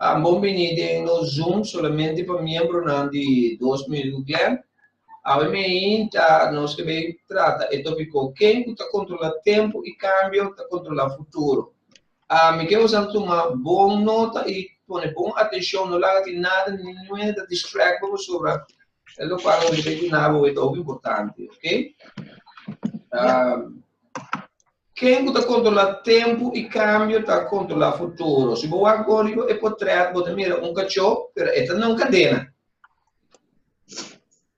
Tan bon bini den nos Zoom solamente pa miembronan di dos mil ku Glen. Awe meinta nos ke bay trata e topico Ken ku ta kontrola tempu i kambio ta kontrola futuro. Mi ke bosan tuma bon nota i pone bon atenshon, no laga tin nada ni nue ta distract bo pasobra e lokual nos ke bay duna bo e ta hopi importante, ok? Ken ku ta kontrolá tempu i kambio ta kontrolá futuro. Si bo wak gor riba e potrèt bo ta mira un kachó, pero e ta na un kadena.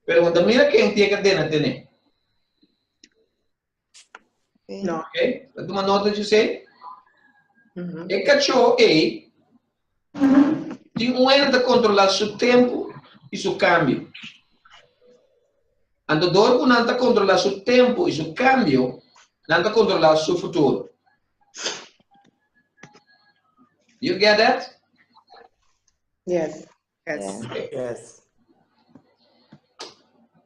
Pregunta, mira ken ti e kadena tene. Oke, ta tuma nota dje esei? E kachó ei tin un hende ta kontrolá su tempu i su kambio. Andador ku nan ta kontrolá su tempu i su kambio, nan ta kontrolá su futuro. You get that? Yes. Yes.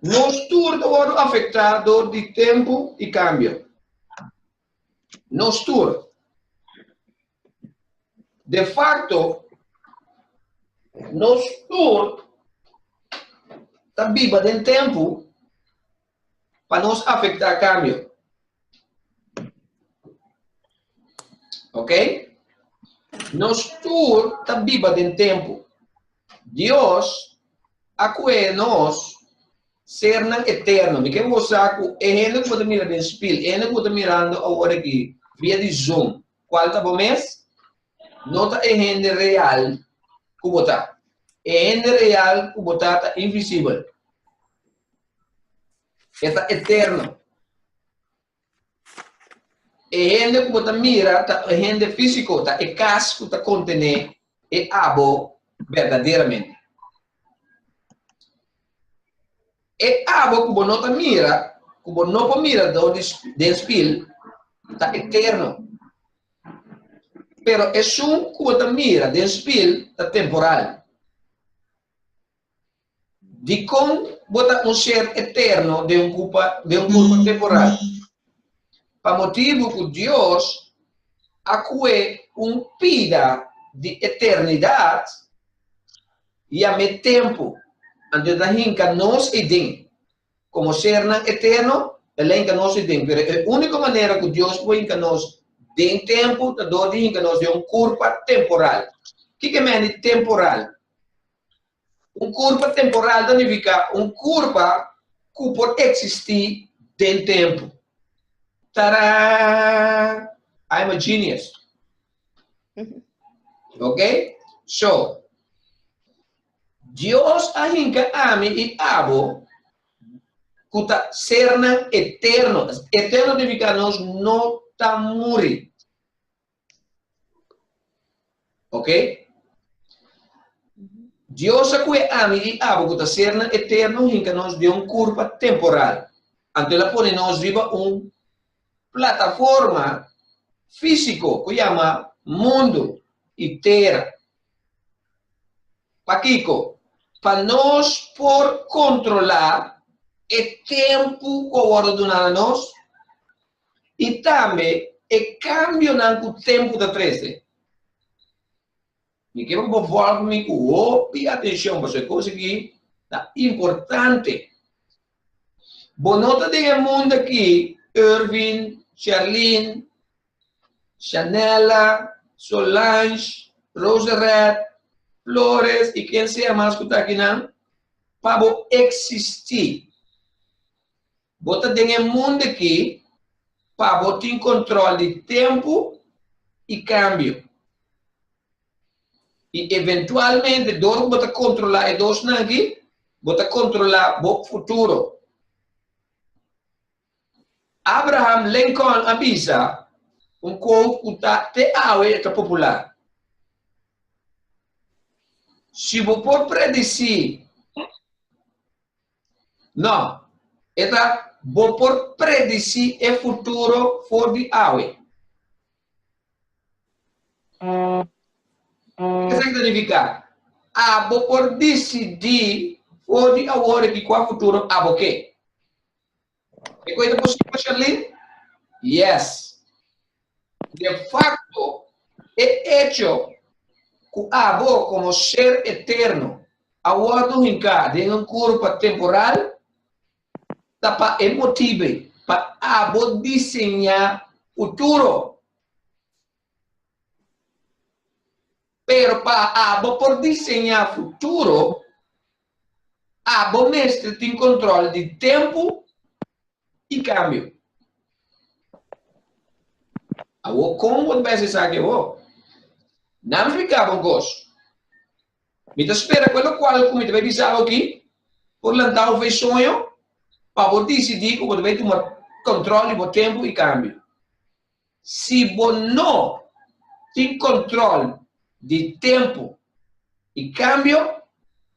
Nos tur ta wòrdu afektá dor di tempu i kambio. Nos tur. De facto, nos tur ta biba den tempu pa nos afectá cambio. Ok? Nos tur ta biba den tempu. Dios a kue nos sernan eterno. Mi ke goza ku e hende ku bo ta mira den spil, e hende ku bo ta mirando awor aki via di Zoom, Cual ta bo mes? No ta e hende real cu bo ta. E hende real cu bo ta ta invisibel. E ta eterno. E hende cu bo ta mira ta e hende fisico, ta e cas cu ta contene e abo verdaderamente. E abo ku bo no ta mira, ku bo no por mira den spil, ta eterno. Pero esun ku bo ta mira den spil ta temporal. Dikon bo ta un ser eterno den un kurpa temporal? Pa motibu ku Dios a kue un pida di eternidat I amé tempu, anto e ta hinka nos ei den. Komo sernan eterno, el a hinka nos ei den, pero e úniko manera ku Dios por hinka nos den tempu ta dor di hinka nos den un kurpa temporal. Kiko e mehen di temporal? Un kurpa temporal ta nifiká un kurpa ku por eksistí den tempu. Tadaa! I am a genius. Ok? So, Dios a hinca ami y abo cuta sernan eterno. Eterno significa nos no ta muri. Ok? Dios a cue ami y abo cuta sernan eterno hinca nos de un curpa temporal. Anto la pone nos riba un plataforma físiko ku yama mundu i tera. Pakiko? Pa nos por kontrolá e tempu ku a wòrdu duná na nos i tambe e kambionan ku tempu ta trese. Mi kier ku bo vòrdu mi ku hopi atenshon pasobra e kos aki ta importante. Bo no ta den e mundu aki, Ervin, Sherlyn, Shanella, Solange, Rosereth, Flores i ken sea mas ku ta akinan, pa bo eksistí. Bo ta den e mundo aki pa bo tin control di tempo y cambio. Y eventualmente dor cu bo ta controla e dosnan aki, bo ta controla bo futuro. Abraham Lincoln a bisa un quote cu ta te awe e ta popular, Si bo por predici. No, e ta, Bo por predisí e futuro for di awe. Ke esaki ta nifiká? Abo por disidí for di awor riba kua futuro abo ke. E cu e ta posibel pa Charlene? Yes! De facto, e hecho cu abo como ser eterno a wordo hincá den un curpa temporal ta pa e motibe pa abo diseñá futuro. Pero pa abo por diseñá futuro. Abo mester tin control di tempo y cambio. Awor con bo ta bisa esaki awor? Nan fika bo goso. Mi ta spera cu e locual cu mi ta bay bisa bo aki por lanta bo fe soño pa bo dicidi cu bo ta bay tuma control di bo tempo y cambio. Si bo no tin control di tempo y cambio,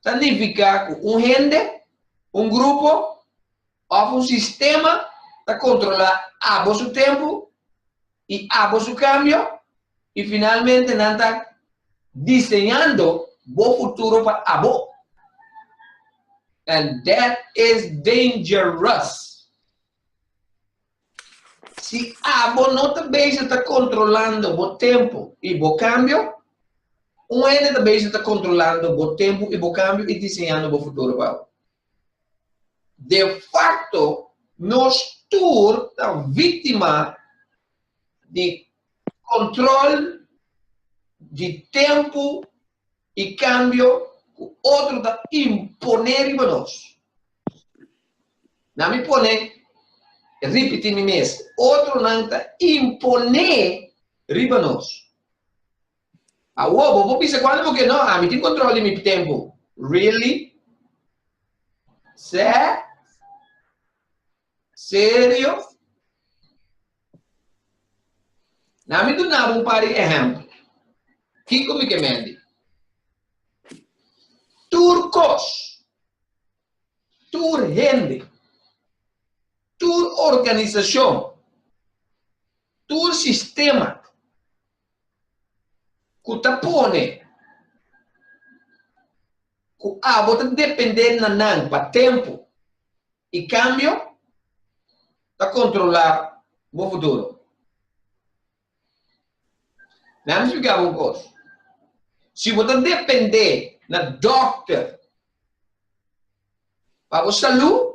ta nifica cu un hende, un grupo of un sistema ta controla abo su tempo y abo su cambio y finalmente nan ta diseñando bo futuro pa abo. And that is dangerous. Si abo no ta bezig ta kontrolando bo tempu i bo kambio, un hende ta bezig ta kontrolando bo tempu i bo kambio i diseñando bo futuro pa abo. Defakto, nos tur ta víktima di kontrol di tempu I kambio ku otro ta imponé riba nos. Na mi pone ripití mi mes, otronan ta imponé riba nos. Awor bo por bisa, Kuantu bo ke no, ami tin kontròl di mi tempu. Really? Sè? Serio? Laat me doen nou een paar exempel. Kiko mi ke mendi. Tur kos, tur hende, tur organisacion, tur sistema cu ta pone cu abo ta depende na nan pa tempo. E cambio ta controla bo futuro. Déjame splica bo un cos. Si bo ta depende na dokter pa bo salud,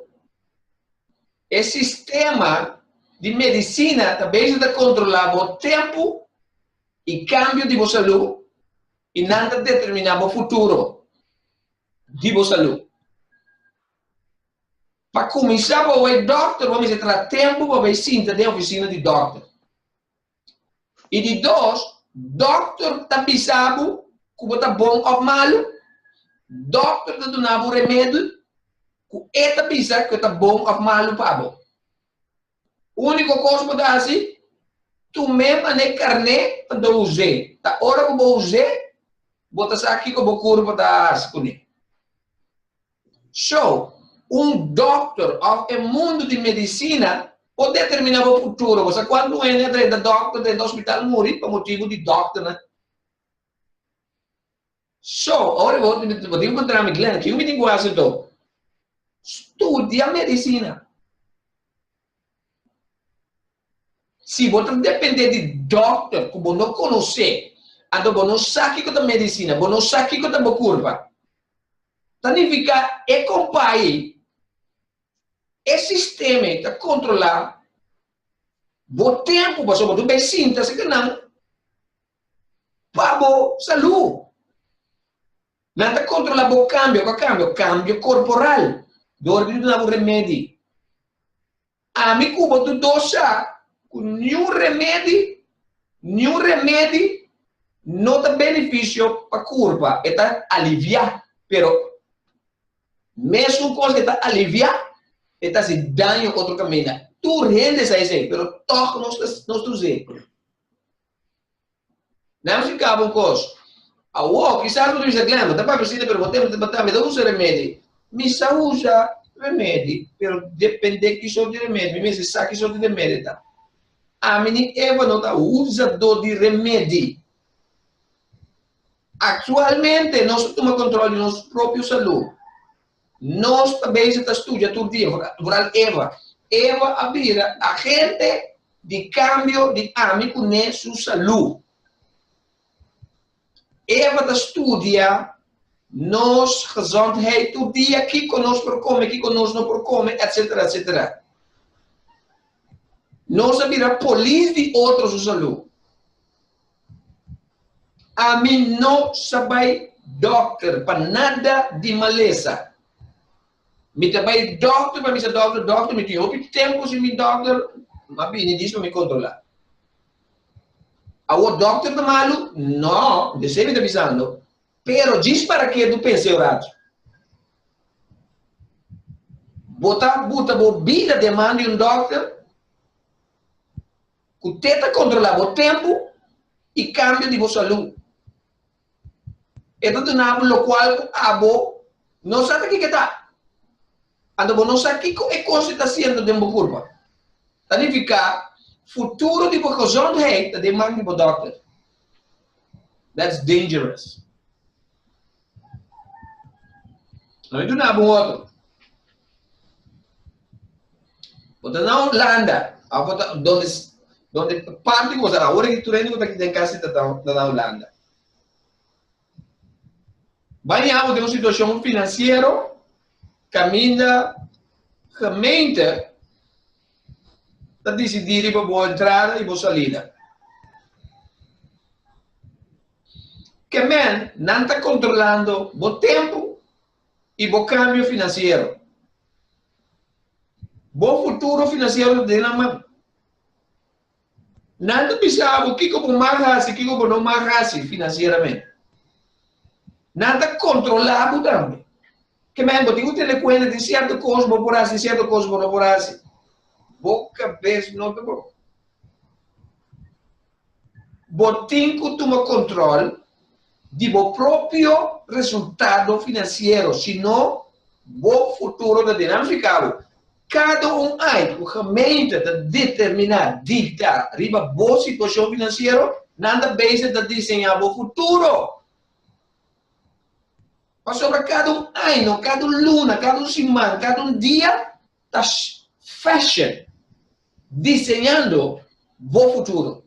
e sistema di medicina ta bezig ta controla bo tempo y cambio di bo salud y nan ta determina bo futuro di bo salud. Pa kuminsá pa bo e dòkter, bo mester tra tempu pa bai sinta den ofisina di dòkter. I di dos, dòkter ta bisa bo ku bo ta bon òf malu. Dòkter ta duna bo remedi ku e ta bisa ku e ta bon òf malu pa bo. Úniko kos bo ta hasi, tum'é man'é karné pa ta us'é, ta ora ku bo us'é, bo ta sa kiko bo kurpo ta hasi kuné. So, un dòkter òf e mundu di medisina por determiná bo futuro. Bo sa kuantu hende a drenta dòkter, drenta ospital, muri pa motibu di dòkternan. So, ora bo bo tin kontrá mi, Glen, kico mi tin cu haci to? Studia medicina. Si bo ta dependé di dokter cu bo no conocé, anto bo no sa kico ta medicina, bo no sa kico ta bo curpa, ta nifica e compay, e sistema ta controla bo tempo, pasobra bo ta bay sinta seca nan pa bo salú. Nan ta kontrolá bo kambio. Kua kambio? Kambio korporal dor di duna bo remedi. Ami ku bo tu dos sa ku niun remedi, niun remedi no ta benefisio pa kurpa. E ta aliviá, pero mesun kos e ta aliviá e ta hasi daño otro kaminda. Tur hende sa esei, pero tòg nos ta nos ta us'é. Nan si kaba un kos. Awor, kisas bo ta bisa, Glenn, bo ta papia asina, pero bo tem di mata mi. Mi ta usa remedi. Mi sa usa remedi, pero depende ki sort di remedi. Mi mester sa ki sort di remedi e ta. Ami ni Eva no ta usado di remedi. Aktualmente nos ta tuma kontrol di nos propio salú. Nos ta bezig ta studia tur dia rural Eva. Eva a bira agente di kambio di ami ku ne su salú. Eva ta studia nos gezondheid tur dia, kiko nos por kome, kiko nos no por kome, etsetera, etsetera. Nos a bira polis di otro su salú. Ami no sa bai dokter pa nada di malesa. Mi ta bai dokter pa mi sa dokter dokter. Mi tin hopi tempu sin bin dokter. Mi a bini dies pa mi kontrola. Awor dokter ta malu? No, no ta esei mi ta bisando. Pero djis para ke bo pensa e orachi? Bo ta buta bo bida den man di un dokter? Ku te ta kontrolá bo tempu i kambio di bo salú. E ta duna bo lokual ku abo no sa ta kiko e ta. Anto bo no sa kiko e kosnan ta hasiendo den bo kurpa. Ta nifiká, futuro di bo gezondheid ta den man di bo dòkter. That's dangerous. Lo mi duna bo un otro. Bo ta na Holanda, a bo ta donde donde parte di bo ta ahora ki tur hende ku ta kita en kasa ta ta na Holanda. Baña bo den un situashon finansiero kaminda gemeente ta disidí riba bo entrada i bo salida. Kemel nan ta kontrolando bo tempu i bo kambio finansiero. Bo futuro finansiero ta den nan man. Nan ta bisa bo kiko bo mag hasi, kiko bo no mag hasi finansieramente. Nan ta kontrola bo tambe. Kemel bo tin ku tene kuenta di sierto kos bo por hasi, sierto kos bo no por hasi. Bo kabes no ta broka. Bo tin ku tuma kontrol di bo propio resultado finansiero, si no bo futuro ta den anfrikado. Kada un ai ku gemeente ta determiná, diktá, riba bo situashon finansiero, nan ta bezig ta diseñá bo futuro. Pasobra kada un año, kada un luna, kada un siman, kada un dia ta fashion diseñando bo futuro.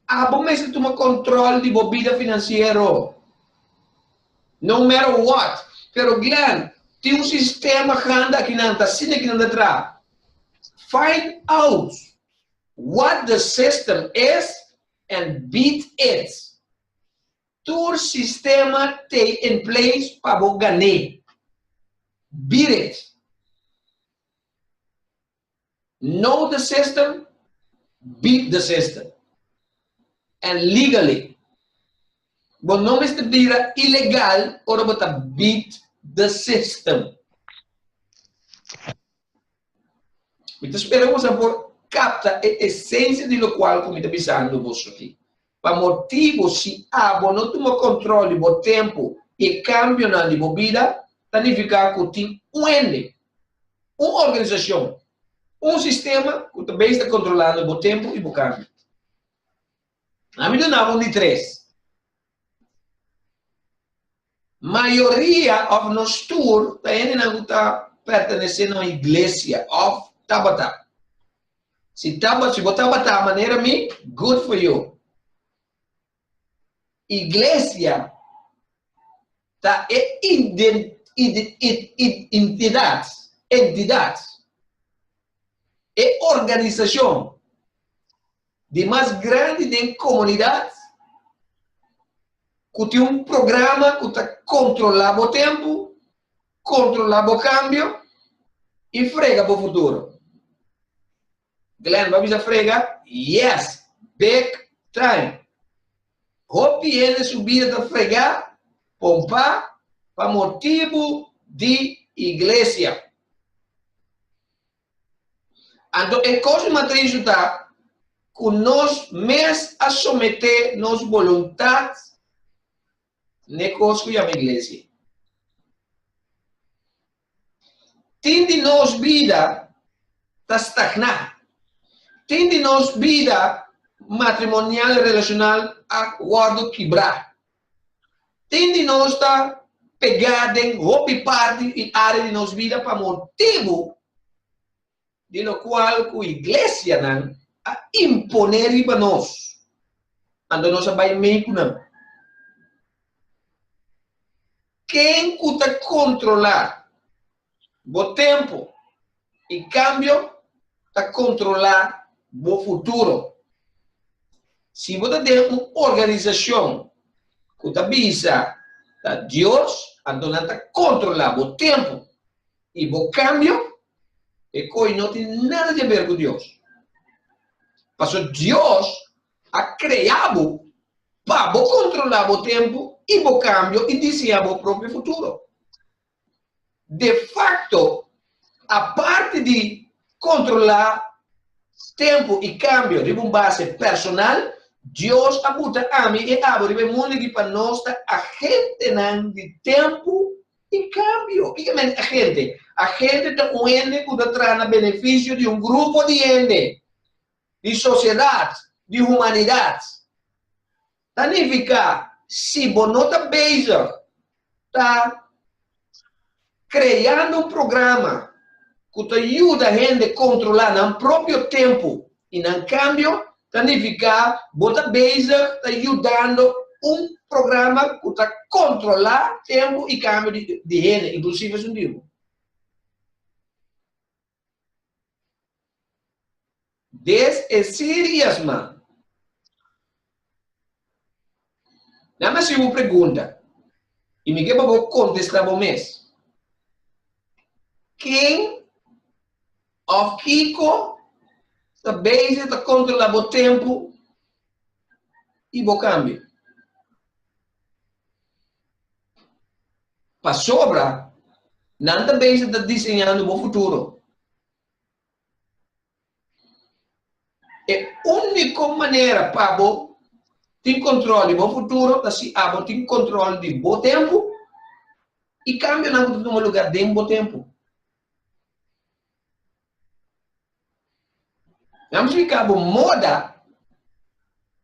Abo mester tuma control di bo bida financiero. No matter what. Pero Glen, tin un sistema grandi akinan, ta asina akinan ta traha. Find out what the system is and beat it. Tur sistema te in place pa bo gané. Beat it. Know the system, beat the system. And legally. Bo no mester bira ilegal ora bo ta beat the system. Mi ta spera ku bo sa por kapta e esensia di lokual ku mi ta bisando boso aki. Pa motibu si abo no tuma control di bo tempu i e cambionan di bo bida, ta nifica cu tin un hende, un organisacion, un sistema cu ta besta controlando bo tempu i bo cambio. Ami duna bo un di tres. Mayoria òf nos tur ta hendenan ku ta pertenesé na un iglesia òf tabata. Si taba, si bo tabata manera mi, good for you. Iglesia ta e ident, id, id, id, intidat, entidat, e organisashon. di mas grandi den komunidat ku tin un programa ku ta kontrolá bo tempu, kontrolá bo kambio i frega bo futuro. Glenn, bo a bisa frega? Yes! Big time! Hopi hende su bida ta fregá, pompá, pa motibu di Iglesia. Anto e kos mas tristu ta ku nos mes a someté nos boluntat n'e kos ku yama iglesia. Tin di nos bida ta stagná. Tin di nos bida matrimonial i relashonal a wòrdu kibrá. Tin di nos ta pegá den hopi parti i área di nos bida pa motibu di lokual ku iglesianan a imponé riba nos, anto nos a bai mei ku nan. Ken ku ta kontrolá? bo tempu i kambio ta kontrolá bo futuro. Si bo ta den un organisashon ku ta bisa ta Dios, anto nan ta kontrolá bo tempu i bo kambio, e koi no tin nada di haber ku Dios. Paso Dios a krea bo pa bo kontrolá bo tempu i bo kambio i diseñá bo propio futuro. de facto, aparte di controla tempo y cambio riba un base personal, Dios a buta ami y abo riba e mundo aki pa nos ta agentenan di tempo y cambio. Kico ta mente agente? Agente ta un hende cu ta traha na beneficio di un grupo di hende, di sociedad, di humanidad. Ta nifiká si bo no ta bezig ta kreando un programa ku ta yuda hende kontrolá nan propio tempu i nan kambio, ta nifiká bo ta bezig ta yudando un programa ku ta kontrolá tempu i kambio di hende, inklusive esun mismo. Des e seriasma. Nan a siu un pregunta y mi ke pa bo contesta bo mes. Ken of kiko ta bezig ta controla bo tempo y bo cambio? Pasobra nan ta bezig ta diseñando bo futuro. E úniko manera pa bo tin kòntròl di bo futuro ta si abo tin kòntròl di bo tempu i kambionan ku ta tuma lugá den bo tempu. Nan blica bo moda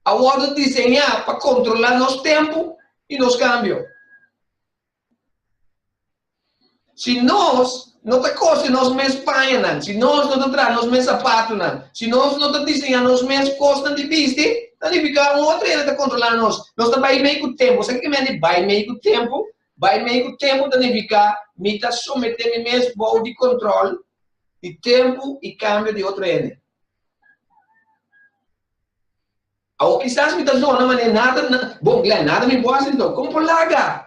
a wordo diseña pa controla nos tempo y nos cambio. Si nos no ta cosi nos mes pañanan, si nos no ta traha nos mes zapatonan, si nos no ta diseña nos mes cosnan di bisti, ta nifica un otro hende ta controla nos. Nos ta bay mey cu tempo. Sa kico mente bay mey cu tempo? Bai mei ku tempu ta nifiká mi ta someté mi mes bou di kontròl di tempu i kambio di otro hende. Awor kisas mi ta dona manera nada na bon Glenn, nada mi por hasi anto. Kon por laga?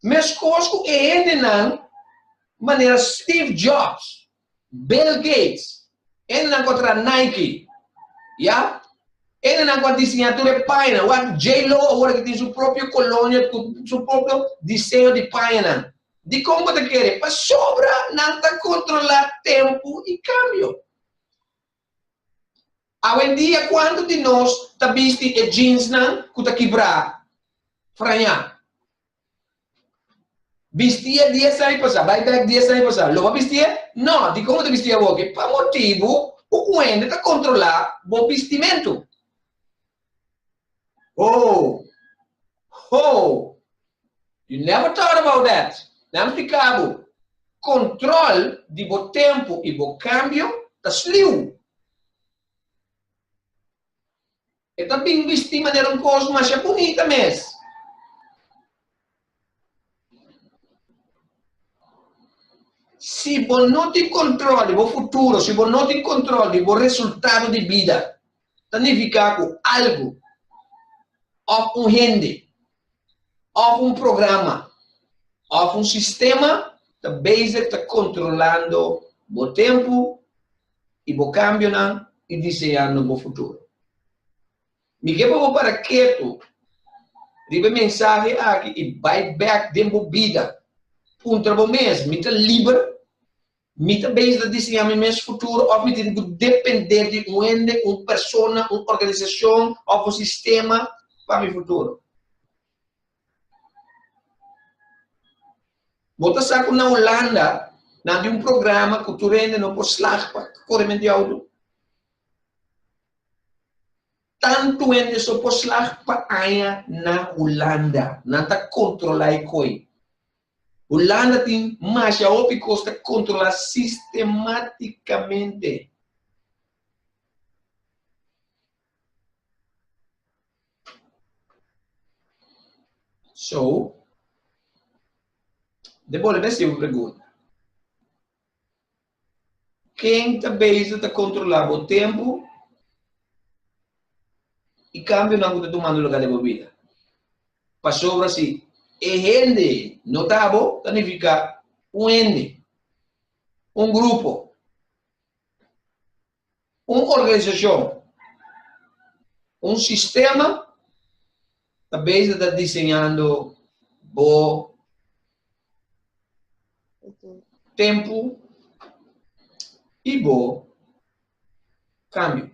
Meskos ku e hendenan manera Steve Jobs, Bill Gates, enenan ku a traha Nike, ya. Enenan ku a disiñá tur e pañanan. Wak J-Lo awor ku tin su propio kolonia ku su propio diseño di pañanan. Dikon bo ta kere? Pasobra nan ta kontrolá tempu i kambio. Awendia kuantu di nos ta bisti e jeansnan ku ta kibrá frañá? Bistia dies ane pasá, bai bèk dies ane pasá, lo bo a bistié? Nò! Dikon bo ta bistié awoke? Pa motibu ku kuende ta kontrolá bo bistimentu. Hoo! Hoo! You never thought about that! Nan spiká bo, Kontrol di bo tempu i bo kambio ta sliu. E ta bin bisti manera un kos masha bunita mes. Si bo no tin kontrol di bo futuro, si bo no tin kontrol di bo resultado di bida, ta nifiká ku algu òf un hende òf un programa òf un sistema ta bezig ta kontrolando bo tempu, i bo kambionan i diseando bo futuro. Mi ke pa bo para ketu riba e mensahe aki i bai bek den bo bida. Puntra bo mes, Mi ta liber? Mi ta bes ta diseña mi mes futuro òf mi tin ku dependé di un hende, un persona, un organisashon òf un sistema pa mi futuro? Bo ta sa cu na Hulanda nan tin un programa cu tur hende no por slag pa core mente auto. Tantu hende so por slag pa aña na Hulanda. Nan ta controla e coy. Hulanda tin masha hopi cos ta controla sistematicamente. So, de bolbe hasi un pregunta. Ken ta beiso ta kontrolá bo tempu i kambionan ku ta tumando lugá den bo bida? Pasobra si e hende ei no ta abo, ta nifiká un hende, un grupo. Un organisacion, un sistema ta bezig ta diseñando bo tempu y bo cambio.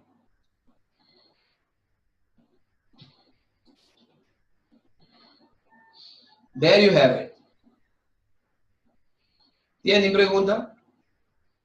There you have it. Tiene pregunta?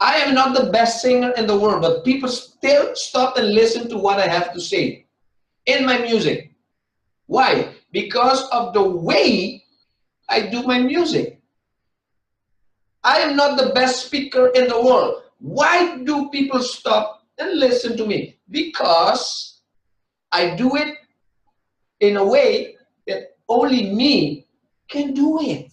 I am not the best singer in the world but people still stop and listen to what I have to say in my music why because of the way I do my music I am not the best speaker in the world why do people stop and listen to me because I do it in a way that only me can do it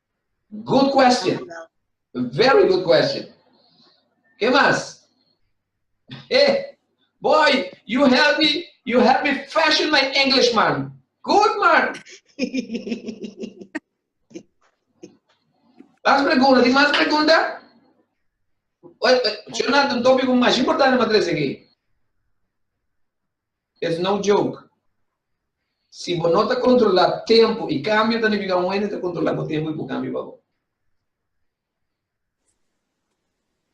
Good question. Very good question. Ke mas? Hey, boy, you help me, you help me fashion my English, man. Good, man. Mas pregunta, tem mais pergunta? Jonathan, um tópico mais importante para trazer aqui. Ef no joke. Si bo no ta kontrolá tempu i kambio ta nifiká un hende ta kontrolá bo tempu i bo kambio pa bo.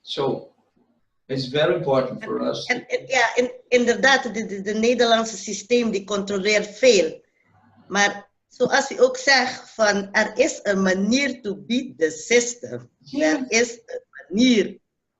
So, it's very important for us. En, en, ja, en, inderdaad, de, de, de Nederlandse systeem die controleert veel. Maar zoals u ook zegt, van er is een manier to beat the system. Er is een manier.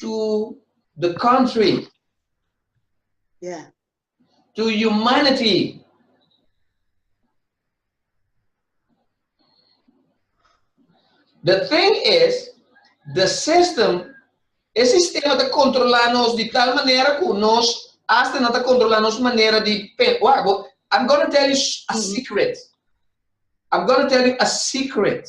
to the country. Yeah. To humanity. The thing is, the system, e sistema te controla nos di tal manera cu nos hasta no te controla nos manera di pen. Wago, I'm gonna tell you a mm-hmm. secret. I'm gonna tell you a secret.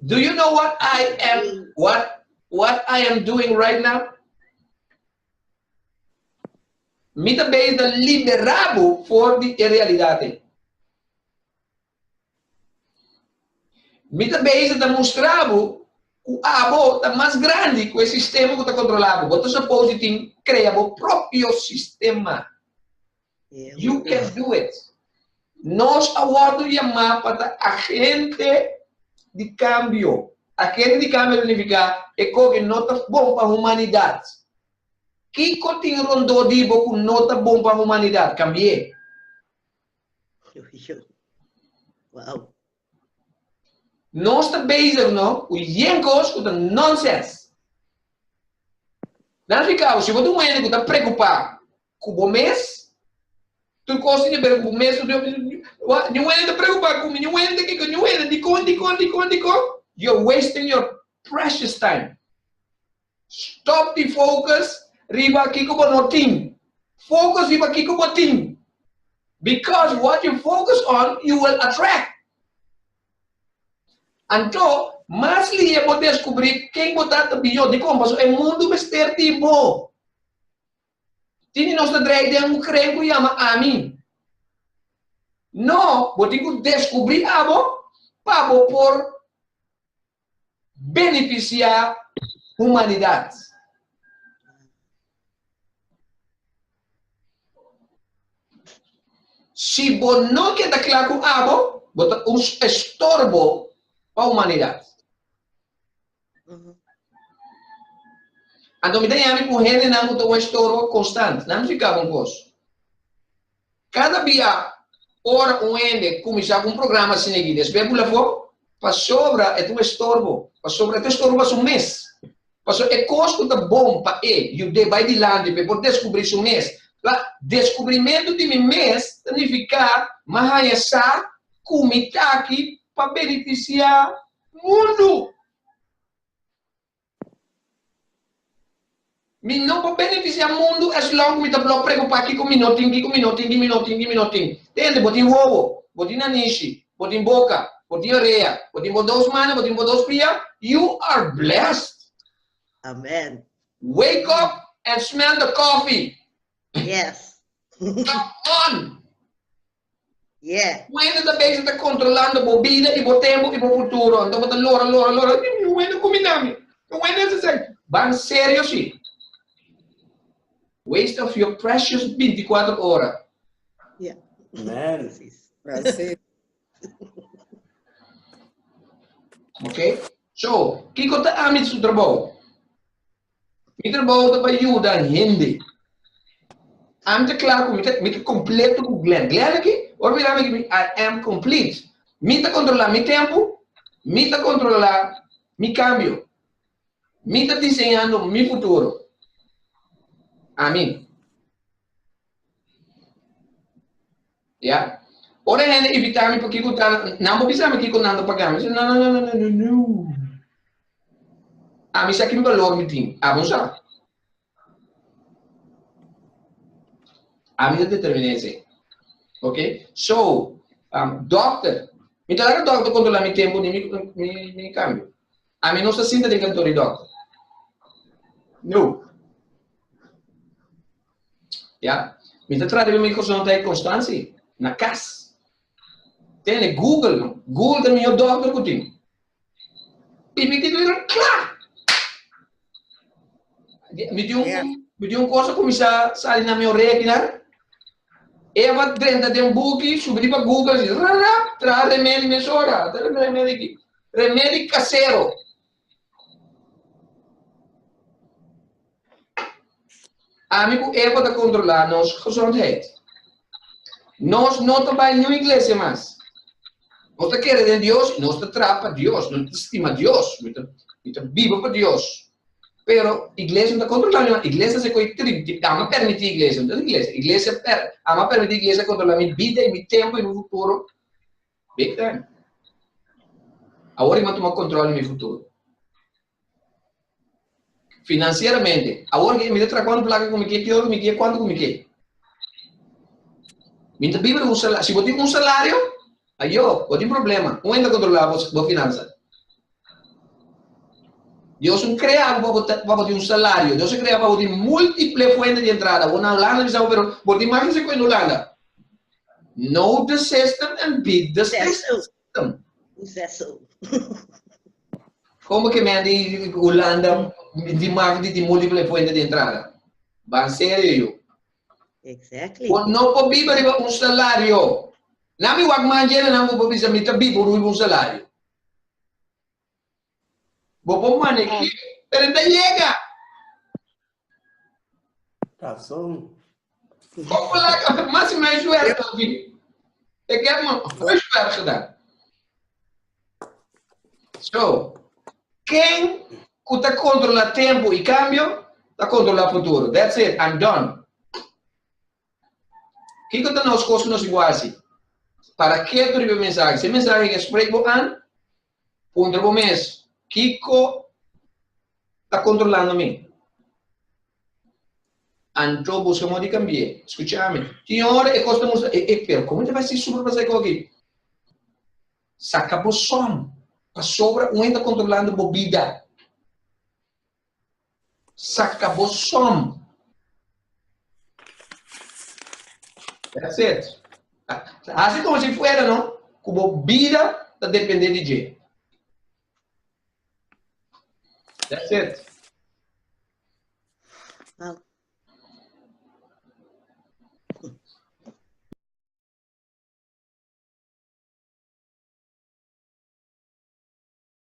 Do you know what I am what what I am doing right now? Mi ta bezig ta libera bo for di e realidad ei. Mi ta bezig ta mustra bo cu abo ta mas grandi cu e sistema cu ta controla bo. Bo ta suppose di tin crea bo propio sistema. You can do it! Nos a wòrdu yamá pa ta agente di kambio. Agente di kambio ta nifiká e kos ku no ta bon pa humanidat. Kiko tin rondó di bo ku no ta bon pa humanidat? Kambi'é! Nos ta bezig no ku yen kos ku ta nonsens. Nan a fikado si bo ta un hende ku ta preokupá ku bo mes. Tur kos tin e bira ku bo mes. Ña wende ta preocupa ku mi. Ña wende ta kiko. Ña wende dikon, dikon, dikon, dikon. You're wasting your precious time. Stop di focus riba kiko bo no tin. Focus riba kiko bo tin. Because what you focus on, you will attract. Anto, mas lia bo descubri ken bo ta ta biyo. Dikon? Paso e mundu mester di bo. tin di nos ta drei den un kren ku yama Ami. No, bo tin ku deskubrí abo pa bo por benefisiá humanidat. Si bo no ke ta kla ku abo, bo ta un estorbo pa humanidat. Anto mi ta yami ku hendenan ku ta un estorbo konstant. Nan fika ku un kos. Kada bia ora un hende kuminsá ku un programa asina aki, despues e pula afó, pasobra e ta un estorbo. Pasobra e ta un estorbo pa su mes. Pasobra e kos ku ta bon pa e yud'é bai dilanti pa e por deskubrí su mes. La, deskubrimentu di mi mes ta nifiká, mi a haña sa ku mi ta aki pa benefisiá mundu. Mi no por benefisiá mundu eslong ku mi ta blo preokupá kiko mi no tin, kiko mi no tin, di mi no tin, di mi no tin. Te hende bo tin wowo, bo tin nanishi, bo tin boka, bo tin orea, bo tin bo dos mana, bo tin bo dos pia, you are blessed. Amen. Wake up and smell the coffee. Yes. Come on. Yeah. Wende ta bezig ta kontrolando bo bida i bo tempu i bo futuro. Anto bo ta lora, lora, lora, Dios mio, wende kumi na mi? Pero wende ta esei, Ban serio si. Waste of your precious 24 ora. Yeah. Man. Precies. Ok? So, kiko ta amit su trabajo? Mi trabou ta pa yuda hende. Ami ta kla ku mi ta kompleto ku Glenn. Glenn aki, ora mira mi aki, mi I am complete. Mi ta kontrolá mi tempu, mi ta kontrolá mi kambio, mi ta diseñando mi futuro. Amin. Ya. Ora e hende ibita mi pokiko ku ta nan por bisa mi kiko nan ta paga mi, mi si no, no, no, no, no, no. Ami sa kin balor mi tin. Abo sa. Ami ta determiná esei. Ok? So, um, dokter, mi ta laga dokter kontrolá mi tempu ni mi, mi, mi kambio. Ami no sa sinta den kantor di dokter. No. Ya. Mi ta trata mi corazón ta e Constanzi, na cas. Tene Google, no. Google ta mihor dokter cu tin. Y mi tin biron cla! Mi tin un, mi tin un cosa cu mi sa sali na mi orea aki, na. Eva drenta den buki, subi di pa Google, si, ra, ra, traha remedi mesora, ta remedi ki. Remedi casero. Ami ku Eva ta kontrolá nos gezondheid. Nos no ta bai niun iglesia mas. Nos ta kere den Dios i nos ta traha pa Dios. Nos ta stima Dios. Mi ta biba pa Dios. Pero iglesia no ta kontrolá mi mas. Iglesia ta hasi koe trip di ami a permití iglesia. Ami a permití iglesia kontrolá mi bida i mi tempu i mi futuro. Big time. Awor i m'a tuma control di mi futuro. Financieramente, awor ke mi ta traha cuanto placa cu mi ke, ki hora cu mi ke, cuanto cu mi ke. Mi ta biba di un salario. Si bo tin un salario, ayo, bo tin problema. Con wen ta controla bo finanza? Dios no crea bo pa bo tin un salario. Dios a crea pa bo tin multiple fuente di entrada. Bo na Hulanda bisa bo, pero bo tin mas di cincuenta Hulanda. No the system and beat the system. system. Zessel. Como que men di Holanda di marketing di múltiple fuente de entrada? Ba serio yo. Exactly. Por no por viver riba un salario. Nami wak manjera nami por bisa mi ta vivo riba un salario. Bo por manej'é, pero e ta yega. Razon. Bo por laga afecta, mas si no e suerte ta bini. E ke afecta mas, bo e suerte ta da. So, ken ku ta kontrola tempu i kambio, ta kontrola futuro. That's it, I'm done. Kiko ta nos kos ku nos igual si? Para ke tur riba e mensahe? Si e mensahe ke sprek bo an, Puntra bo mes, Kiko ta kontrolando mi? Anto buska modi kambi'é. Skucha mi. Tin ora e kos ta mustra e e, pero komo e ta bai si super pasá e koki? Saka bo son, pasobra un hende ta kontrolando bo bida. Saca bo som. That's it. Haci como si fuera, no? Cu bo bida ta depende di dje. That's it.